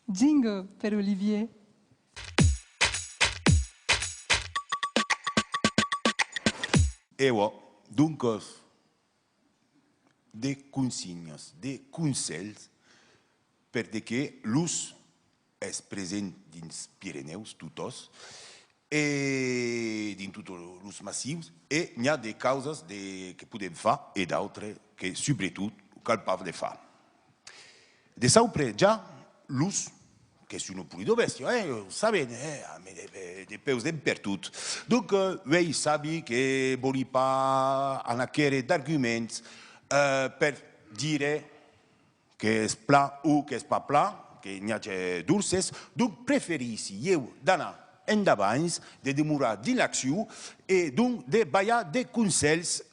Jingle per Olivier. Ewa, doncas, de consignas, de conselhs per de que los es present dins Pirenèus totos e dins totes los massius e n'i a de causas de que podem far e d'autres que subretot cal pas de far. De sauple ja los que son au Pulido Bèstia, eh, o saben, eh, a me depeus d'en pertot. Donc, uei sabi que vòli pas anar quèrre d'arguments per dire qu'es plan o qu'es pas plan, que n'i age dorses, donc preferissi ieu d'anar endavants, de demorar dins l'accion e donc de balhar de conselhs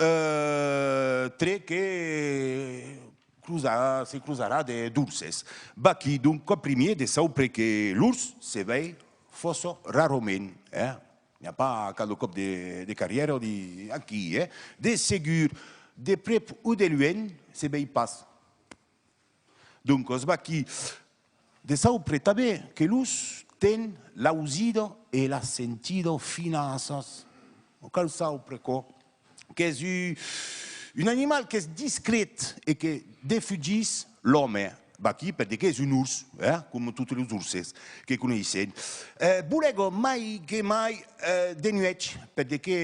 tre que, Closarà, se closarà de dolces. Vaquí donc quò primier de saupre que lors se vei fòrça rarament, eh? N'i a pas cada còp de carrièra o de. Aquí, eh? De segur, de prèp o de luènh, se vei pas. Doncas, vaquí De saupre tanben que los ten l'ausido e la sentido finasas. Non cal saupre aquò, qu'es un animal qu'es discret e que defugís l'òme. Vaquí per de qu'es un urs, eh, coma totes los urses que coneissèm. Bolègo mai que mai de nuèch, per de que.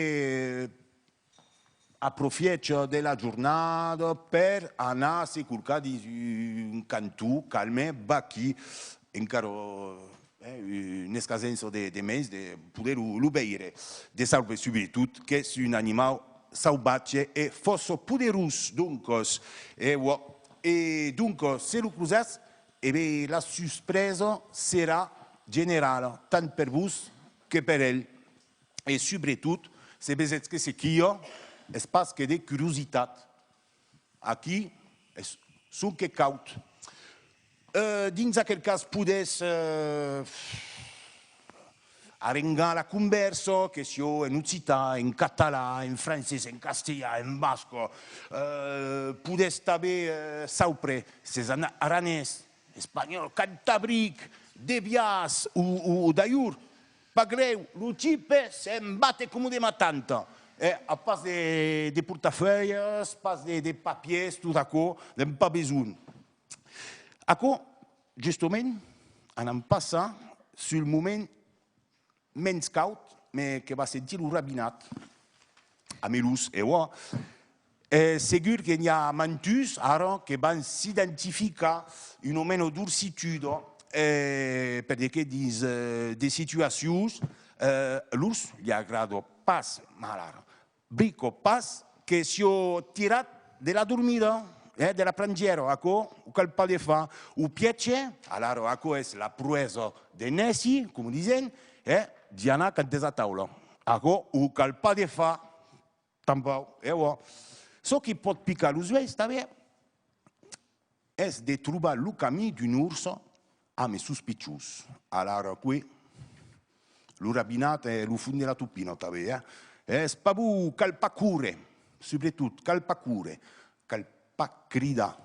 Aprofièch de la jornada per anar se corcar dins un cantó calme, vaquí encara una escasença de mens de poder lo veire de sauve subretot qu'es un animau sauvatge e fòrça poderós doncas e uòh e doncas se lo crosatz e be la suspresa serà generala tant per vos que per el e subretot se ves eth que se quio es pas que de curiositat, aquí es sonque caut. Dins aquel cas podes arrengar la convèrsa, que sió en occitan, en catalan, en francés, en castelhan, en basco, podes tanben saupre s'es en aranés, espanhòl, cantabric, de biaç o d'ailhur. Pas grèu, lo tipe se'n bate coma de ma tanta, eh, a pas de, de portafèias, pas de, de papiers, tot aquò, n'èm pas besonh. Aquò, justement, anam passar sul moment mens caud, me, que va sentir lo rabinat, a Melús, e ua, Es segur que n'i a mantus ara que van s'identificar una mena d'orsituda perque dins de situacions los li agrada pas, malara, brico pas que sió tirat de la dormida, eh, de la prangièra, aquò o cal pas de far, o pièce, alara aquò es la proesa de nèci, coma disèn, eh, d'i anar cantes'a taula, aquò o cal pas de far. Tanpau. E uòh, çò qui pòt picar los uèis tanben es de trobar lo camí d'un urs amb es sus pichons. Alara qué? Lo rabinat e lo fon de la topina tanben, eh? Es pas bon, cal pas córrer, subretot, cal pas córrer, cal pas cridar.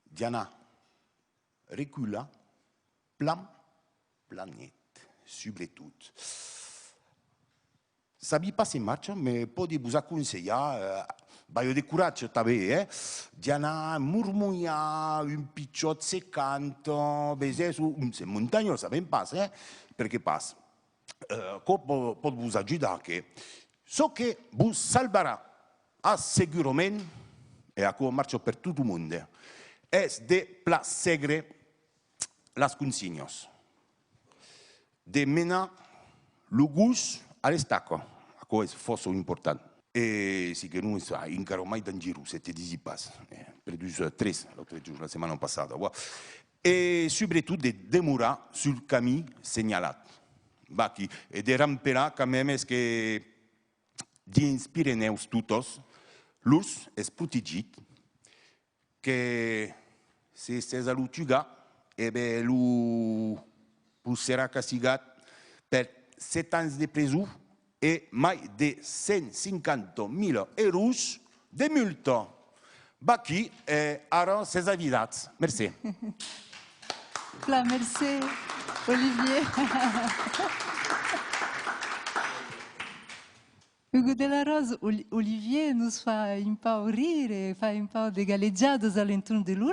Diana recula plan planet, subretot. Sabi pas se marcha, me pòdi vos aconselhar, balho de coratge tanben, eh? d'i anar mormolhar un pichòt se canta, vesètz, o se montanhòl, sabèm pas, eh? Per que pas? Aquò pòt vos ajudar, que? Çò que vos salvarà assegurament, e aquò marcha per tot o monde, es de plassegre las consinhas. De menar lo gos a l'estaca, aquò es fòrça important. E si que non es encara mai dangerós, se te disi pas, perdut tres l'autre jorn, la setmana passada, uòh. E subretot de demorar sul camin senhalat, vaquí, e de rampelar quand même es que dins Pirenèus totes, l'ors es protegit Que se estès a lo tugar, e be lo pus serà castigat per 7 ans de preso e mai de 150 mila euros de multa. Vaqui e ara s'es avisats. Mercé. Plan, mercé Olivier. Hugo de la Rose, Olivier nos fa un pauc rire, fa un pauc de galejadas a l'entorn de lor